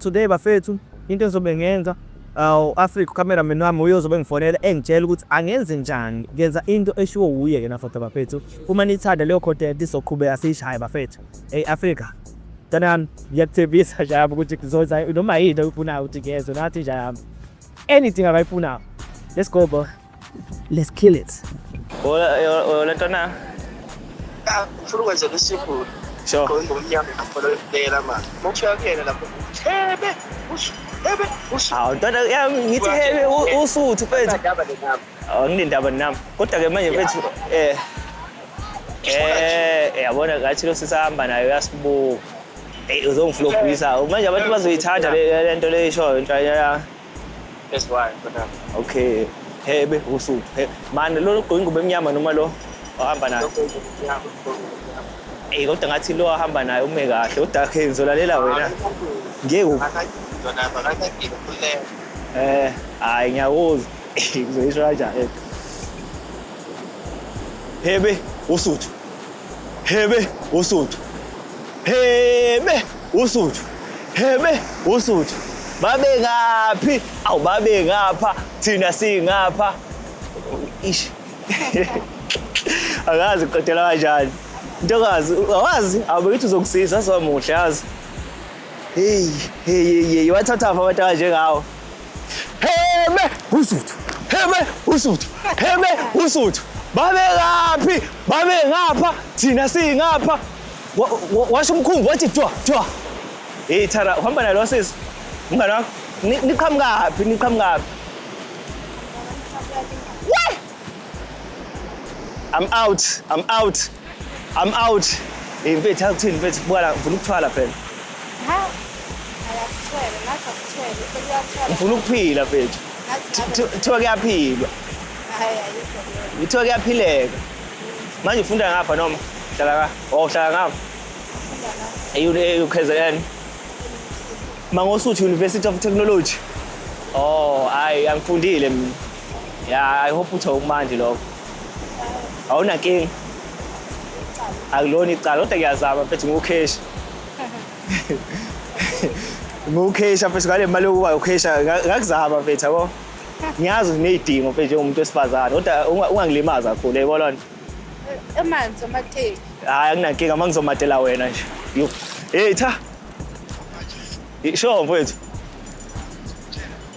Today bafethu into engizobe ngenza awu Africa cameraman wami uye uzobe ngifonela engitshela ukuthi angenze njani ngenza into eshiwo wuye yena futhi bafethu uma nithanda leyo content izoqhubeka siyishaye bafethu hey Africa tanani ngiyakuthembisa nje yami ukuthi kuzoza noma yini oyifunayo ukuthi ngezwe nathi nje yami anything abayifunayo let's go bro Let's kill it. Hola, hola, Tona. Ah, furu kwa zetu siku. Sure. Kwa ngu mnyama na polo dela ma. Mocha yake na kwa tebe. Usu tebe. Usu. Ah, Tona ya ngiti hebe usu utu pezi. Oh, ngini ndaba nam. Kota ke manye pezi. Eh. Eh, yabona ngathi lo sisahamba nayo yasibuka. Hey, uzongiflopisa. Manje abantu bazoyithanda le nto le show inhlanya. That's why, but um, Okay. Hebe usuku. He- Mani lo ogqoke ingubo emnyama noma lo ohamba naye? okay, yeah, okay. Eh kodwa ngathi lo ahamba naye ume kahle. Kodwa ke ngizolalela wena. Ngeke u- eh hayi ngiyakuzwa. Ngizoyisho kanjani? Hebe usuthu. Hebe uSuthu. Hebe uSuthu. Hebe uSuthu. Babe ngaphi? Awu babe ngapha, thina singapha. Ish. Akazi qedela kanjani. Ntokazi, awazi, abakithi uzokusiza azomuhle yazi. Hey, hey, hey, hey, wathatha apha abantu abanjengawo. Heme usuthu. Heme usuthu. Heme usuthu. Babe kaphi? Babe ngapha, thina singapha. Washo umkhumbi wathi twa twa. Hey Thara, uhamba nalo sisi. Mngane wakho, niqhamukaphi? Niqhamukaphi? I'm out. I'm out. I'm out. Hey mfethu akuthini mfethu bukala ngifuna ukuthwala phela. Ha. Ayasithwele, nathi asithwele, sekuyathwala. Ngifuna ukuphila mfethu. Kuthiwa kuyaphilwa. Hayi ayikho. Kuthiwa kuyaphileka. Manje ufunda ngapha noma? Hlala ka. Oh, hlala ngapha. Ayu eh uKZN. Mangosuthu University of Technology. Oh, hayi angifundile mina. Yeah, I hope uthe ukumandi lokho. awunakinga akulona icala kodwa ngiyazama mfethu ngiwukheshi ngiwukhesha mfethu ngale mali yokuba ukhesha ngakuzama mfethu yabo ngiyazi uneyidingo mfethu njengomuntu wesifazane kodwa ungangilimazi kakhulu yebo lona emanzi amateki hayi anginankinga uma ngizomatela wena nje yo hey cha sure mfethu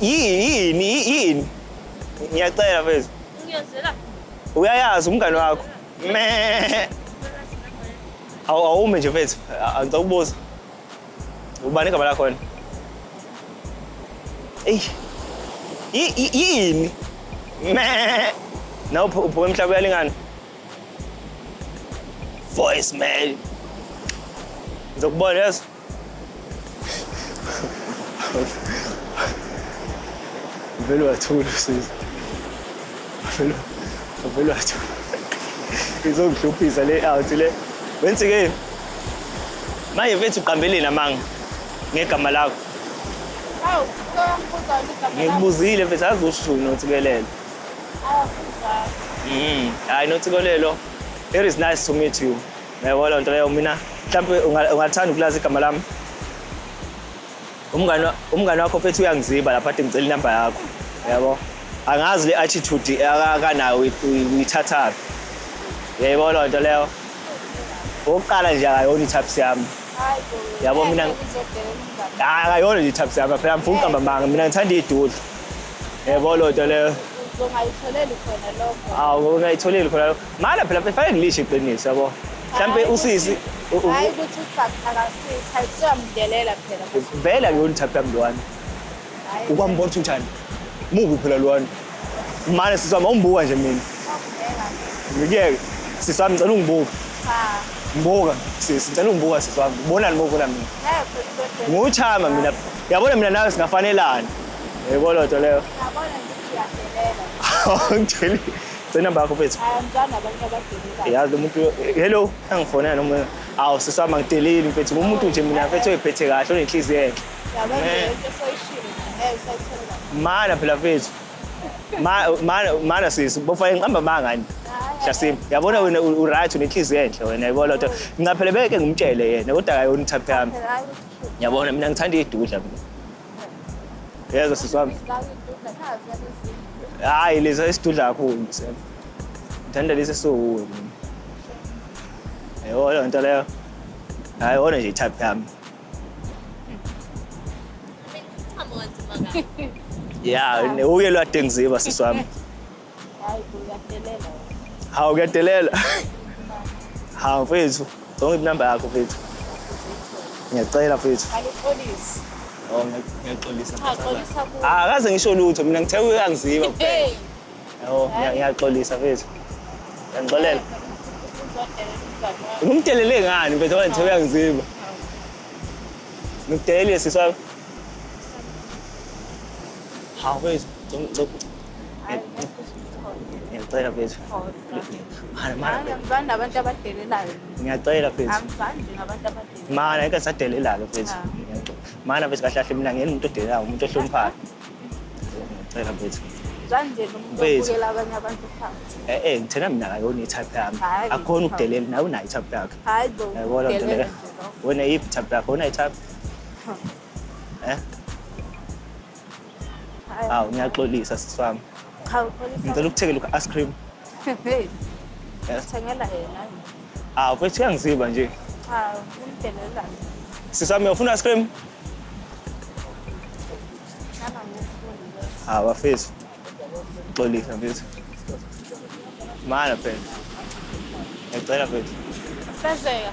yini yini ngiyacela mfethu uyayazi umngane wakho me awume nje mfethu angicela ukubuza ubani igama lakhona eyi yini me na uphuka emhlaba uyalingana voice mail ngizokubona yeso vele wathula usizi vele vele wathula izongihluphisa le out le wenzi ke manje mfethu uqambeleni amanga ngegama lakho awu ngikubuzile mfethu azi usho unothikelelo awu mm hayi nothikelelo it is nice to meet you Yabo loo nto leyo mina mhlawumbe ungathanda ukulazi igama lami umngane umngane wakho phethu uyangiziba lapha athi ngicela inamba yakho yabo angazi le attitude akanayo uyithathaphi yebo loo nto leyo okokuqala nje akayona ithaphisi yami yabo mina akayona nje ithaphisi yami phela ngifuna ukuqamba manga mina ngithanda iy'dudla yebo loo nto leyo ungayitholeli khona lokho awu ungayitholeli khona lokho Ngale phela befake ngilisho iqiniso yabo. Mhlambe usisi hayi ukuthi uthakasitha siyamdelela phela. Vele akuyona type yami lwana. Ukwambona ukuthi njani? Mubi phela lwana. Mane sisama umbuka nje mina. Ngiyeke. Sisami ngicela ungibuke. Cha. Mbuka sisi ngicela ungibuka sisi wami. Ubonani mobona mina? Nguchama mina. Yabona mina nawe singafanelana. Yebo lodwa leyo. Yabona ngiyadelela. Awungideli. Senamba yakho mfethu. Anjani abantu abadumile. Yazi umuntu hello angifona noma awu sisama ngiteleli mfethu umuntu nje mina mfethu oyiphethe kahle onenhliziyo enhle. Yabo nje eh. into soyishilo ngeke usayithola. Mana phela mfethu. Mana mana sisi bofanele ngihamba mangani. Shasim yabona wena u right unenhliziyo enhle wena yabo lotho. Ngicaphele beke ngimtshele yena kodwa akayona uthaphe yami. Yabona mina ngithanda idudla mina. Yeza sisi wami. Hayi leza isidudla kakhulu msem. Ngithanda lesi esiwuwe. Yebo leyo nto leyo. Hayi ona nje type yami. Yeah, uye lwadengiziba sisi wami. Hayi kuyadelela. Hawu kuyadelela. Hawu mfethu, ngicela inamba yakho mfethu. Ngiyacela mfethu. Alixolisi. Oh, ngiyaxolisa. Cha, xolisa kuwe. Ah, akaze ngisho lutho mina ngithe uyangiziba kuphela. Hey. Yabo, ngiya- ngiyaxolisa mfethu. Ngiyangixolela. Uzodelela umngane wakho. Ngimdelele ngani mfethu ngoba ngithe uyangiziba. Ngikudelelile sisi wami. Hawu mfethu, ngicela- ngicela- Ngiyacela mfethu. Mara mara. Angizani nabantu abadelelayo. Ngiyacela mfethu. Angizani nje nabantu abadelelayo. Mara ngeke sadelelalo mfethu. Mara mfethu kahle kahle mina ngiyena umuntu odelelayo umuntu ohloniphayo. Ngiyacela mfethu. Kanje nomuntu obukela abanye abantu phansi. Eh eh ngithena mina akayona i-type yami. Akukhona ukudelela nawe unayo i-type yakho. Hayi bo. Yabona nto le. Wena iphi type yakho? Wena i-type? Eh? Hawu ngiyaxolisa sisi wami. Cha uxolisa. Ngicela ukuthekela u-ice cream. Hey. Yes. Thengela yena. Hawu mfethu uyangiziba nje. Cha umdelela. Sisi wami ufuna ice cream? Nana ngifuna. Hawu bafethu. Xolisa mfethu. Mana phela. Ngicela mfethu. Fezeka.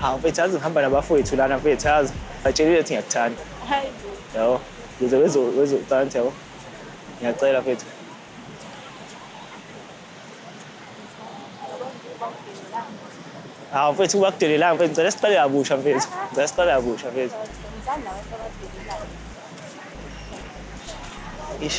hawu mfethu yazi ngihamba nabafowethu lana mfethu yazi batshelile ukuthi ngiyakuthanda Hayi bo. yabo ngize wezo- wezocansi yabo ngiyacela mfethu hawu mfethu uba kudelelanga mfethu ngicela siqale kabusha mfethu ngicela siqale kabusha mfethu Ngithanda abantu abadelelayo. ish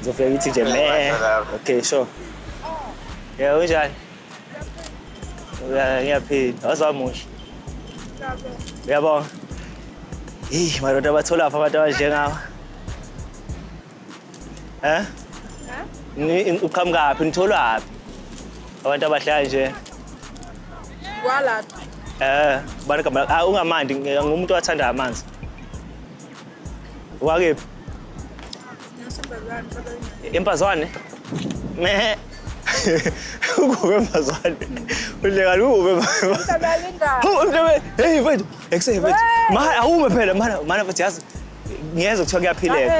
Ngizofika ngithi nje me. Okay, sure. Yeah, unjani? Ngiyaphila. Wazamusha. Uyabonga. Hey, madoda bathola apha abantu abanjengawa. Eh? Ni uqhamukaphi? Nitholwaphi? Abantu abahlala nje. Kwala. Eh, bani kamala. Ah, ungamandi, ngumuntu owathanda amanzi. Wakephi? Impazwane. Me. Ukube impazwane. Uhleka lube. Umntabe. Hey mfethu, ekuse mfethu. Ma awume phela mana mana mfethu yazi. Ngiyeza kuthiwa kuyaphileka.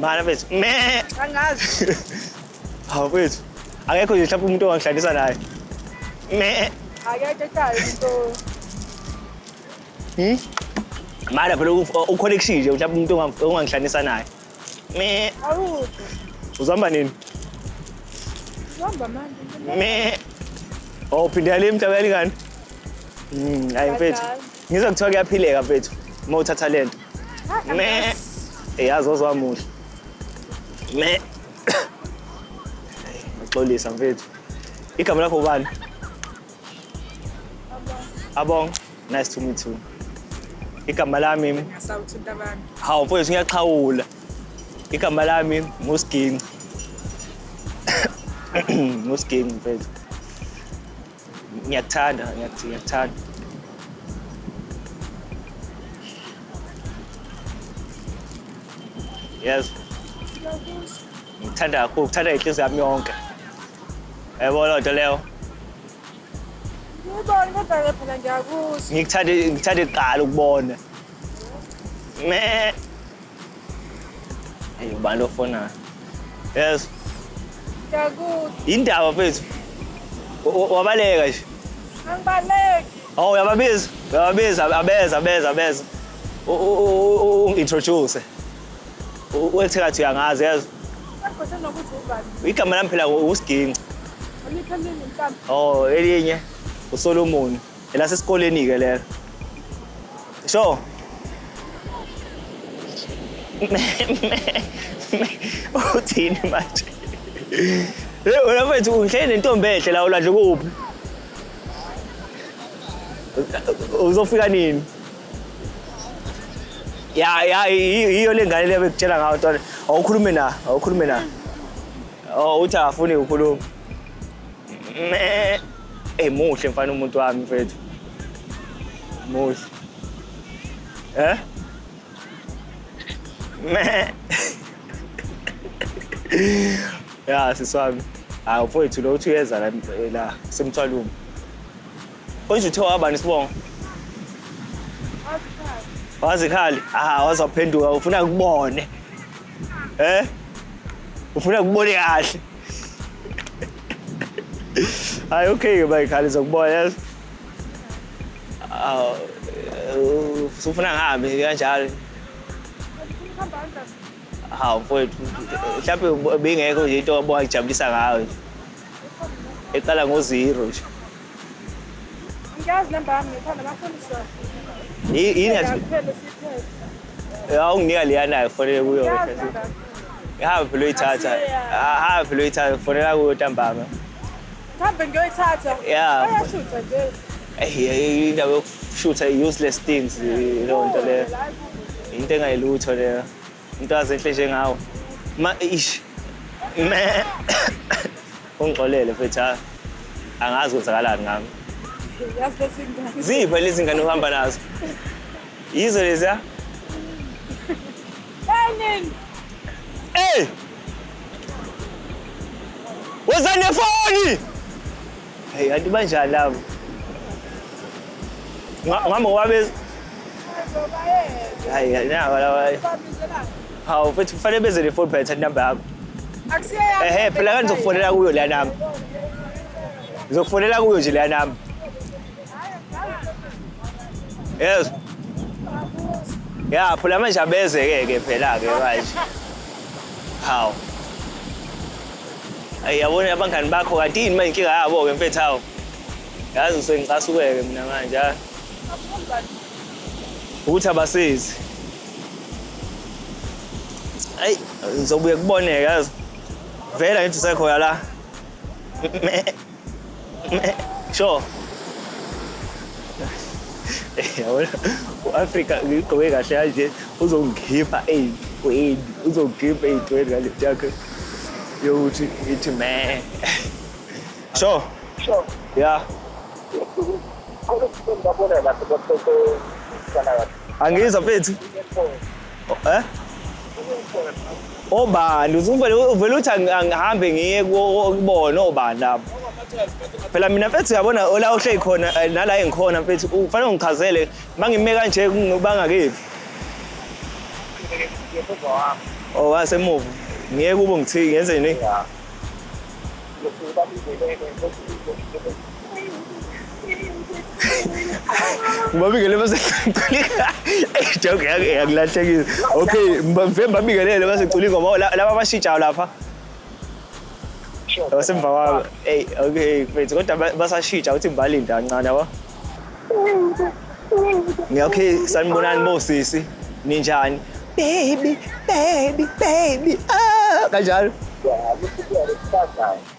Mana mfethu. Me. Angazi. Hawu mfethu. Akekho nje mhlawumbe umuntu ongihlalisa naye. Me. Akekho ekhaya umuntu. Hmm? Mara phela ukhona ekushije mhlawumbe umuntu onga- ongangihlanisa naye. Me Awude. uzihamba nini? Uhamba manje. Me Oh phindela le mhlaba yalingani? Mm, hayi mfethu. Badala. Ngizwa kuthiwa kuyaphileka mfethu uma uthatha lento. Hayi, Me angazi. eyazi ozwamuhle. Me Ngixolisa mfethu. Igama lakho ubani? Abong. Nice to meet you. Igama lami Ngasawuthinta abantu. hawu mfowethu ngiyaxhawula. Igama lami nguSginci. nguSginci mfowethu. Ngiyakuthanda, ngiyakuthi- ngiyakuthanda. Yes. Ngithanda kakhulu, ngithanda inhliziyo yami yonke. Yabo loo nto leyo. Ngibona kodwa ke phela ngiyakuzwa. Ngikuthande ngikuthande kuqala ukubona. Me. Hey, ubani ofona? Yes. Ngiyakuzwa. Indaba mfethu. Wa- wa- Wabaleka nje. Angibaleki. Oh, uyababiza. Uyababiza abeza abeza abeza. U- u- u- u- u- Introduce. Uthi kathi uyangazi yazi. Igama lami phela uSginci. Oh, elinye uSolomon. Ela sesikoleni ke lelo. Sho. Uthini manje? Hey, wena mfethu uhleli nentombi enhle la ulandle kuphi? Uzofika nini? ya ya yiyo le ngane le bekutshela ngayo tole awukhulume na awukhulume na oh uthi akafuni ukukhuluma eh muhle mfana umuntu wami mfethu muhle eh ya siswami hayi mfowethu lo uthi uyeza la la semthwalumo Konje uthe wabani isibongo? Wazikhali. Ah, wazaphenduka ufuna kubone. Eh? Ufuna kubone kahle. Hayi okay ke bayikhali zokubona yazi. Ah, usufuna ngihambe kanjalo. Hawu mfowethu, mhlawumbe bingekho nje into obongijabulisa ngayo nje. eqala ngo-zero nje ngiyazi namba yami ngithanda bafundisa yini awunginika leyanayo kufanele kuyo ihambe phela uyithatha ahambe phela uyithatha kufanela kuyo ntambama mhambe ngiyoyithatha ya ayashutha nje eyi indaba yokushutha i-useless things leyo nto leyo into engayilutho leyo Into azenhle njengawe. Ma ish. Me. Ungixolele mfethu. ha. Angazi kwenzakalani ngami. Yazi lezi ngane. Ziphi lezi ngane uhamba nazo? Yizo lezi ya? Enin. Hey! Wozani nefoni! Hey, kanti banjani labo? Nga- Ngami ngobabe hayi hayi, naba laba. Hawu futhi kufanele beze ne phone phela number yakho. Ehhe phela kanti ngizokufonela kuyo leya number. Ngizokufonela kuyo nje leya number. Yes. Ya phela manje abeze ke ke phela ke manje. Hawu. Ayi yabona abangani bakho kanti yini manje inkinga yabo ke mfethu hawo. Yazi ngisuke ngicasukeke mina manje. ha? Ukuthi abasizi. Ayi ngizobuye kuboneke yazi. Vela ngithi usekhona la. Sure. Yabona u-Afrika ngigqoke kahle kanje uzongikhipha ey'ntweni uzongikhipha ey'ntweni ngale nto yakhe yokuthi ithi me so Sure. ya Kodwa ngibona lapho kodwa Angizwa mfethu. Eh? Obani uzuvele uvele uthi angihambe ngiye kubona obani lapho. Phela mina mfethu uyabona ola uhleli khona eh, nala engikhona mfethu ufanele ungichazele mangime kanje bangakephi. Oh wasemuva. Ngiye kubo ngithike ngenze nini? Ngibabingelele base Culika. Ey joke yake yakulahlekile. Okay, mfembe babingelele base Culika ngoba la- laba abashijayo lapha. Abasemva kwabo. Ey okay, mfethu kodwa ba- basashija uthi ngibalinde kancane yabo. Ngi- Okay, sanibonani bo sisi. Ninjani? Baby, baby, baby. Ah, kanjalo.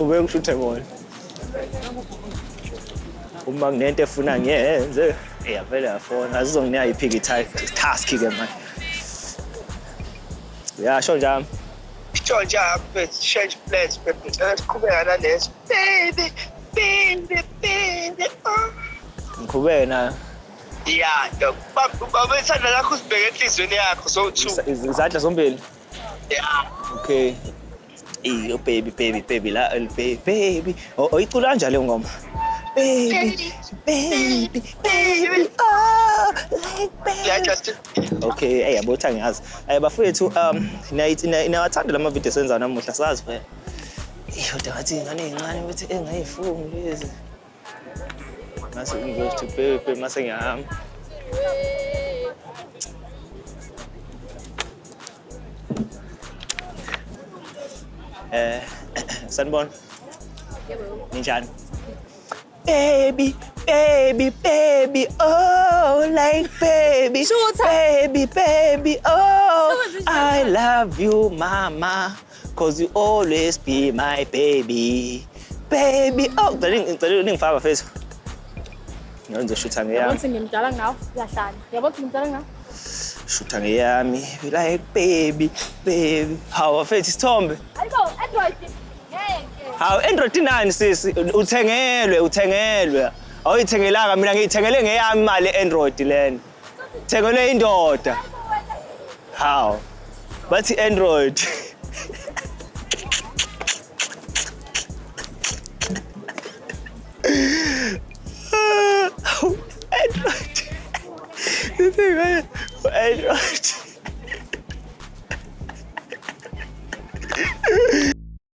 Ubuye ngishuthe ngona. Uma kunento efuna ngiyenze, iyavele yafona. Azizonginika iphiki task ke manje. Uyasho njami. Georgia Humphrey change plans baby ngicela siqhubeka naleso baby baby baby oh. ngiqhubeke nayo ya dok baba isandla lakho usibheke enhliziyweni yakho so two Isa- iz- izandla zombili ya okay Ey, oh, baby baby baby la el- baby baby O- oyicula kanjani leyo ngoma baby baby baby ah like baby ya just okay ey yabo uthi angiyazi Eh, bafowethu um niyayithi- niya- niyawathanda lama video senza namuhla sazi phela Ey, kodwa ngathi ingane encane ukuthi engayifuni lezi Nasa ingo to pe pe masayam. Eh, Sanbon. Ninjan. Baby, baby, baby, oh, like baby, Shorter. baby, baby, oh, Shorter. I love you, mama. Cause you always be my baby. Baby. Oh, ngicela ngicela ningifaka bafethu. Ngenze shutha ngeyami. Yabona ukuthi ngimdala ngawo, uyahlanya. Yabona ukuthi ngimdala ngawo. Shutha ngeyami. Like baby, baby. Hawu bafethu isithombe. Ayibo, Android. Ngeke. Hawu Android inani sisi? Uthengelwe, uthengelwe. Awuyithengelanga mina ngiyithengele ngeyami imali Android lena. Thekelwe indoda. How? Bathi Android. Android. Android.